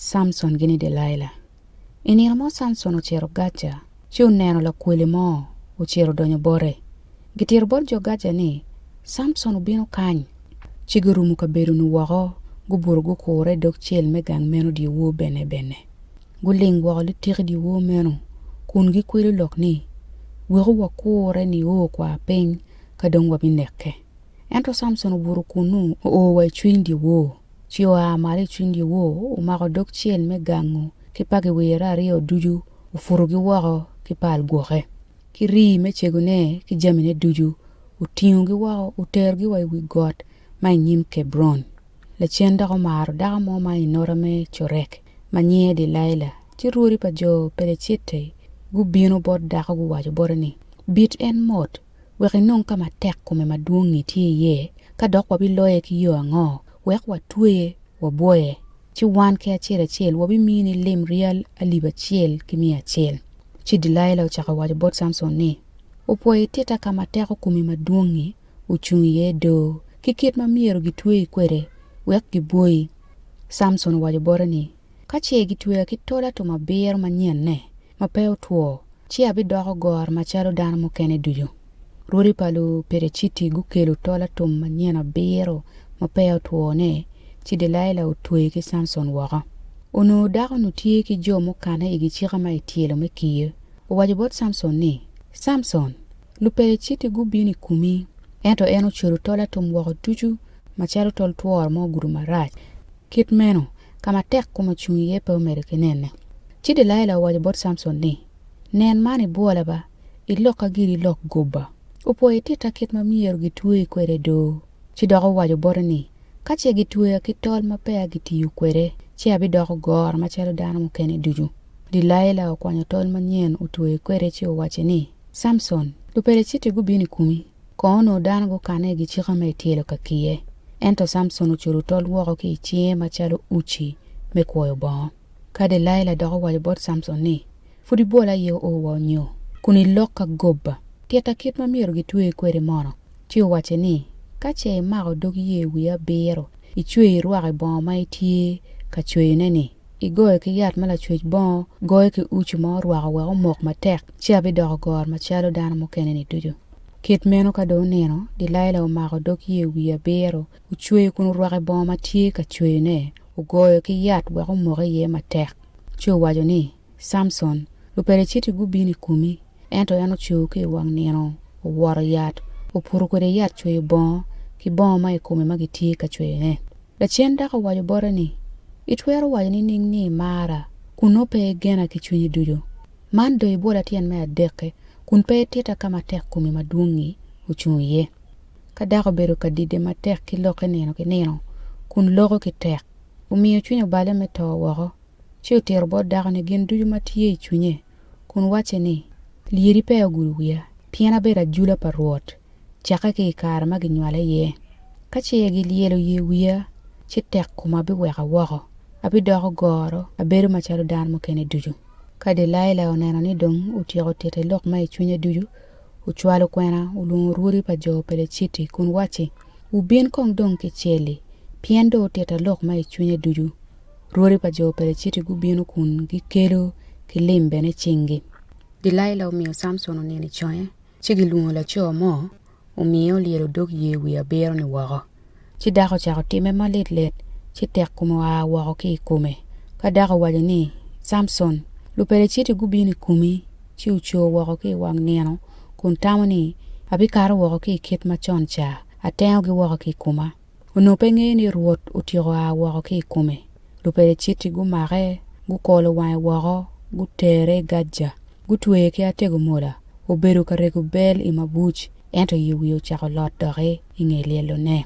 Samson gini Delaila. I nino mo Samson ocito Gaja ci oneno lakwele mo ocito odonyo bote. Gitito bot jo Gaja ni, Samson obino kany! Ci gurumo kabedo-nu woko, gubuto gukure i dog cel me gang meno dyewor bene bene. Guling woko litiki dyewor meno kun gikwelo lok ni, Weku wakure nio kwa piny ka dong wabinekke. Ento Samson obuto kunnu, oo wa i cwiny dyewor, ci oa malo i cwiny dyewor, omako dog cel me gangu ki pa giwire aryo ducu, oputogi woko ki pal gwoke, ki rii me cegone ki jamine ducu, otingogi woko, oterogi wa i wi got ma i nyim Kebron. Lacen dok omaro dako mo ma i nota me Corek, ma nyinge Delaila, ci rwodi pa jo Pelecitti gubino bot dako guwaco bote ni, Bit en mot! wek inong ka ma tek kome madwong-ngi tye iye, ka dok wabiloye ki yo ango? Wek watweye, wabwoye, ci wan ki acel acel wabimiyo ni lim ryal alip acel ki miya acel. Ci Delaila ocako waco bot Samson ni, Opwoyo ititta ka ma teko kome madwong-ngi ocung iye do, ki kit ma myero gitweyi kwede wek gibwoyi. Samson owaco bote ni, Ka ce gitweya ki tol atum abiro manyenne ma pe otwo, ci abidoko goro macalo dano mukene ducu. Rwodi pa Lupereciti gukelo tol atum manyen abiro ma peya otwo-ni, ci Delaila otweyo ki Samson woko. Onongo dako-nu tye ki jo mukanne i gicika ma ityelo me kiye. Owaco bot Samson ni, Samson, Lupeliciti gubino i komi, ento en ocwero tol atum woko ducu macalo tol tworo ma ogudo marac. Kit meno, ka ma tek kom ocung iye pe omedo ki nene. Ci Delaila owaco bot Samson ni, Nen man ibwola ba, ilokka giri ilok gobba. Opwoyo ititta kit ma myero gitweyi kwede do. Ci dok owaco bote ni, Ka ce gitweya ki tol ma peya gitiyo kwede, ci abidoko goro macalo dano mukene ducu. Delaila okwanyo tol manyen otweyo kwede ci owacce ni, Samson, Lupeleciti gubino i kumi, kong onongo dano gukanne i gicika ma ityelo ka kiye. Ento Samson ocudo tol woko ki i cinge macalo uci me kwoyo bongo. Ka Delaila dok owaco bot Samson ni, Pud ibwola aye oo wa onyo? Kun ilok ka gobba, titta kit ma myero gitweri kwede mono? Ci owacce ni, Ka ce imako dog ye wiya abiro, icweyo irwaki bongo ma itye ka cweyone-ni. igoyo ki yat ma lacwec bongo goyo ki uci ma orwako wek omok matek, ci abidoko goro macalo dano mukene-ni ducu. Kit meno ka dong onino, Delaila omako dog yer wiye abiro, ocweyo kun orwako i bongo ma tye ka cweyone, ogoyo ki yat wek omok iye matek, ci owaco ni, Samson, Lupeliciti gubino i komi! Ento en ocung ki i wang nino, oworo yat, oputo kwede yat cweyo bongo ki bongo ma i kome ma gitye ka cweyone. Lacen dako owaco bote ni, Itwero waco nining ni imara kun nongo pe igena ki cwinyi ducu? Man dong ibwola tyen me adek-ki kun pe ititta ka ma tek komi madwong-ngi ocung iye. Ka dako obedo ka dide matek ki lokke nino ki nino kun loko ki tek, omiyo cwinye obale me to woko, ci otito bot dakoni gin ducu ma tye i cwinye kun wacce ni, Lyeri peya ogudo wiya, pien abedo ajula pa Rwot. cakke ki i kare ma ginywala iye. Ka ce gilyelo ye wiya, ci tek koma biweka woko, abidoko goro, abedo macalo dano mukene ducu. Ka Delaila oneno ni dong otyeko tite lok ma i cwinye ducu, ocwalo kwena, olwongo rwodi pa jo Peleciti kun wacci, Wubin kong dong ki cel-li, pien dong otita lok ma i cwinye ducu. Rwodi pa jo Peleciti gubino kun gikelo ki lim bene i cingi. Delaila omiyo Samson onino i conge, Ci gilwongo laco mo, omiye olyelo odog yer wiye abiro-ni woko. Ci dako ocako timme malitlit, ci tek kome oa woko ki i kome. Ka dako owaco ni, Samson, Lupeliciti gubino i komi, ci ocoo woko ki i wang nino, kun tamo ni, Abikato woko ki i kit macon ca, atengogi woko ki i koma. Onongo pe ngeyo ni Rwot otyeko a woko ki i kome. Lupeliciti gumake, gukolo wange woko, gutere i Gaja, gutweye ki atego mola. Obedo ka rego bel i mabuc, ento i wiye ocako lot doki i nge lyelone.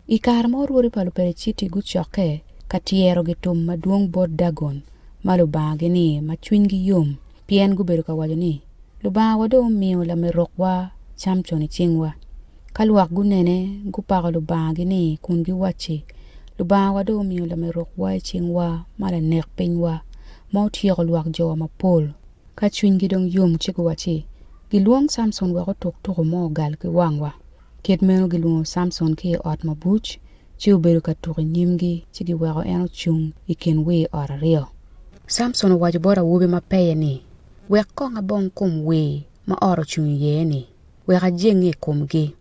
I kare ma orwodi pa Lupeliciti gucokke ka tyero gitum madwong bot Dagon ma lubangagi-ni ma cwinygi yom, pien gubedo ka waco ni, 'Lubangawa dong omiyo lamerokwa Camcon i cingwa. Ka lwak gunene, gupako lubangagi ni kun giwacci, 'Lubangawa dong omiyo lamerokwa i cingwa ma lanek pinywa, ma otyeko lwak jowa mapol. Ka cwinygi dong yom ci guwacci, 'Gilwong Camcon wek otuk tuko mo ogal ki wangwa. Kit meno gilwongo Samson ki i ot mabuc, ci obedo ka tuk i nyimgi, ci giweko en ocung i kin wir ot aryo. Samson owaco bot awobi ma peye ni, Wek kong abong kom wir ma ot ocung iye-ni, wek ajenge i komgi.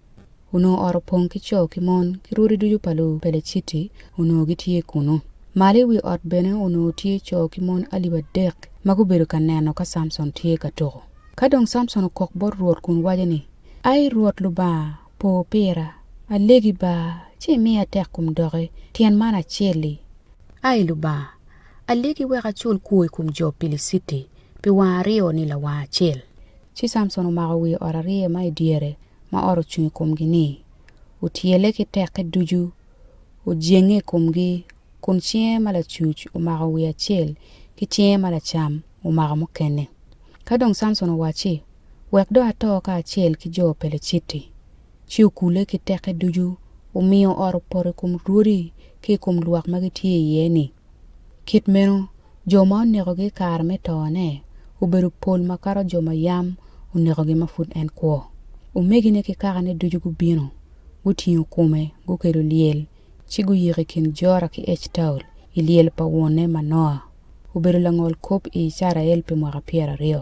Onongo ot opong ki co ki mon, ki rwodi ducu pa Lupeleciti onongo gitye kunnu. Malo i wi ot bene onongo tye co ki mon alip adek ma gubedo ka neno ka Samson tye ka tuko. Ka dong Samson okok bot Rwot kun waco ni, Ai Rwot Lubanga, po pira, alegi ba, ci imiya tek kom doki, tyen man acel-li. Ai Lubanga, alegi wek acul kwo i kom jo Piliciti pi wang aryo ni lawang acel. Ci Samson omako wi ot arye ma i dyere ma ot ocung i komgi-ni, otyele ki teke ducu, ojenge i komgi, kun cinge ma lacuc omako wi acel, ki cinge ma lacam omako mukene. Ka dong Samson owacci, Wek dong ato kacel ki jo Peleciti, ci okule ki teke ducu, omiyo ot opoto i kom rwodi ki i kom lwak ma gitye iye-ni. Kit meno, jo ma onekogi i kare me tone obedo pol makato jo ma yam onekogi ma pud en kwo. Omegine ki kakane ducu gubino, gutingo kome, gukelo lyel, ci guyiko i kin Jora ki Ectaol i lyel pa wonne Manoa. Obedo langol kop i Icrael pi mwaka pyeraryo.